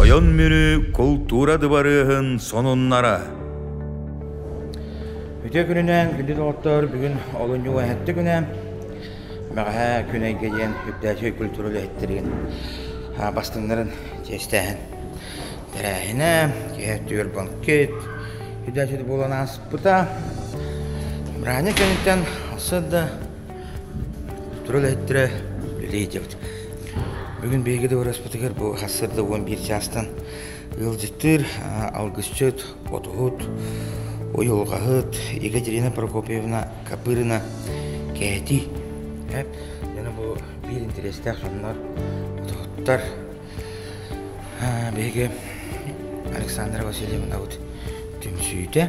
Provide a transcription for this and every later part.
Тойон Мүрү култуура дыбарыаһын сонуннара Үтүө күнүнээн күндү доҕоттор бүгүн олунньу эһэттэ күнэ бэҕэһээ күн эйгэ диэн үрдээчи культура үлэһиттэрин бастыҥнарын чиэстээһин тэрээһинэ киһи өттүгэр банкет үрдээчи буолан ааспыта бырааһынньык кэнниттэн ылсыт да Тура үлэһиттэрэ, үлэ идиэбит. Бүгүн биһиги Дыбарыаспытыгар бу хас сырда уон биир чаастан ыалдьыттыыр, алгысчыт, ботуһут, уйулҕаһыт Ига Дирина Прокопьевна Копырина кэти эп яна бу биир интэриэстээх дьоннор ботуһуттар биһиги Александра Васильевнабыт түмсүүтэ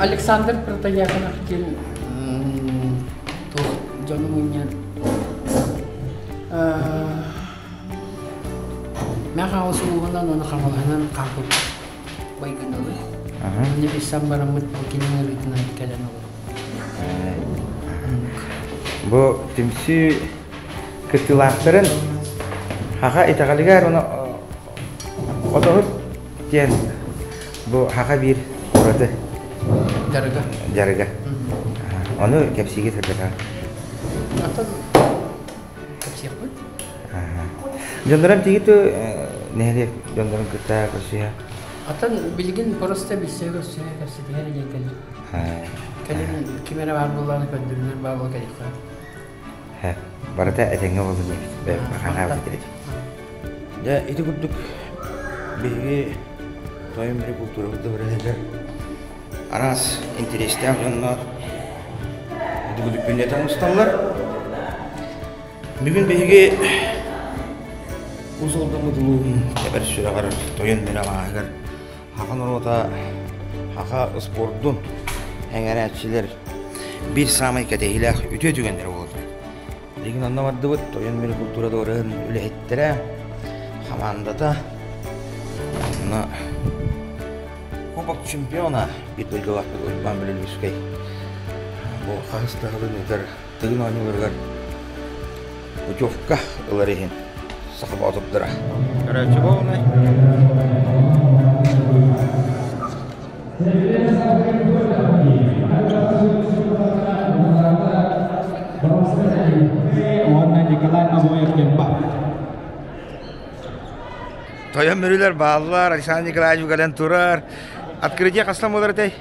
Александр Протояконов диэн туох дьону мунньан Мен хаҕыс ууһунан оны хаҕылаһынан хааппыт байгыналы. Мне бисам барамыт кинин ырытынан кэлен олор. Бу түмсүү кыттыылаахтарын Хаха итэҕэлигэр уна отоһут диэн бу Хаха биир ураты дьарыга дьарыга ону кэпсиигэ сырдатаҕын оттон кэпсиэхпин дьоннорум тигиту нэһилиэк дьоннорун кытта көрсүһэ оттон билигин просто билсиэ көрсүһэ кэпсэтиһэр диэн кэллим кэлин ким эрэ баар буоллаҕына көрдөрүнэр баар буол кэлиэххэ Һэ, барыта этэҥҥэ буолла дии. Бэйэм ханаа билэрим. Дьэ, ити курдук биһиги Тойон Бүлүү култуурабыт дабырыаһыгар араас интэриэстээх дьоннор дүгүлүппүннэтэн усталлар. Бүгүн биһиги Уус Алдан улууһун Тэбэр сүрэҕэр Тойон Бүлүү алааһыгар Саха норуота, саха спордун эҥэрээччилэр биир саамай кэтэһиилээх үтүө түгэннэрэ буолаллар. Билигин онно бардыбыт Тойон Мүрү култуураларын үлэһиттэрэ, хамаандата, онно Кубок чемпиона бит дойдулаахпыт Уйбаан Бөлөлүүскэй бу хаһыс таһылын ыытар Тыгын оонньууларыгар путевка ылар иһин саха боотурдара. Короче, волны. Тойон Мүрүлэр бааллар, Александр Николаевич угален турар. Открытие хастан болар этэй?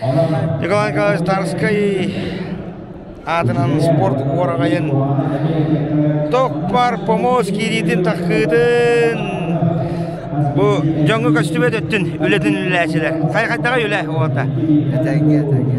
Николай Николаевич Тарский аатынан спорт уораҕайын Токпар помоз киириитин таххыытын бу дьоҥҥу көстүбэ өттүн үлэтин үлэлээчилэр. Хай хайдаҕа үлэ уота? Этэҥҥэ, этэҥҥэ.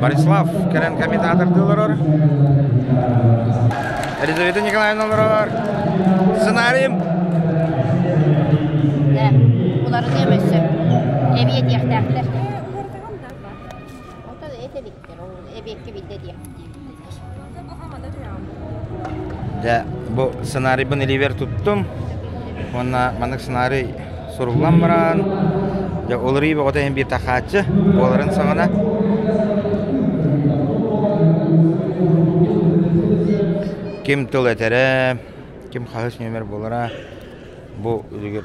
Борислав кэлэн комментатордыы олорор. Елизавета Николаевна олорор. Сценарием. Уларын емессө. Эбиэ диэхтээхтэр. Отон этебит. Дьэ, бу сценарийбын иливэр туттум уонна маннык сценарий суруллан баран дьэ уларый боҕото иһин биир тахааччы буоларын саҕана ким тыл этэрэ ким хаһыс нүөмэр буолара бу үлүгэр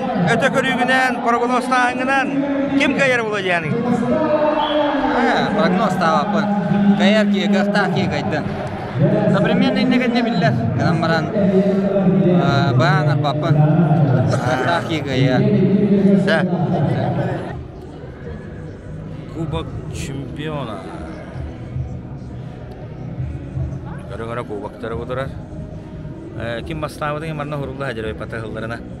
өтө көрүүгүнэн прогнозтааһыҥҥынан ким кыайар Владианың? прогнозтаабаппын кыайар кыайыахтаах кыайдын современный дегенне биллер гынан баран баан арпаппын ааттаах кыайа ся кубок чемпиона көрөҥөрө кубоктары кутурар ким бастаабытын манна хурулла хадьырай пата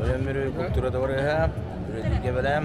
Тойон Мүрү култуура табарыаһа, бүрэтииргэ бэлэм.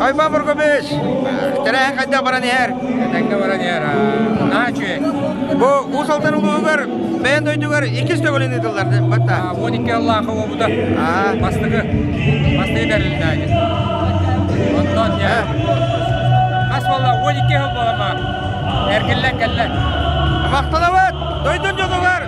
Айба Бургубич, тэрээһин хайдах баран иһэр? Этэҥҥэ баран иһэр. Наһаа үчүгэй. Бу Уус Алдан улууһугар бэйэн дойдугар иккис төгүлүн ыытыллар батта. 12 ыллаах уобута. Бастыгы. Бастыгы бэрилдээги. Онтон дьэ. Хас болла 12 хыл болама. Эргиллэн кэллэ. Махталабыт! Дойдун дьонугар!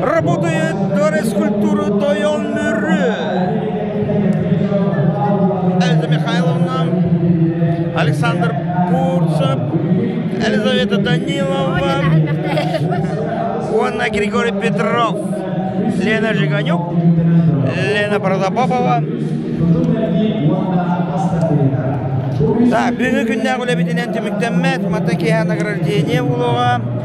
Работает флорескультура Тойоннюры Эльза Михайловна, Александр Курцев, Елизавета Данилова уонна Григорий Петров, Лена Жиганюк, Лена Прозопопова. Да, бүгүнгі күннээх үлэбитинэн түмүктэммэт, мата киһи награждение булуга,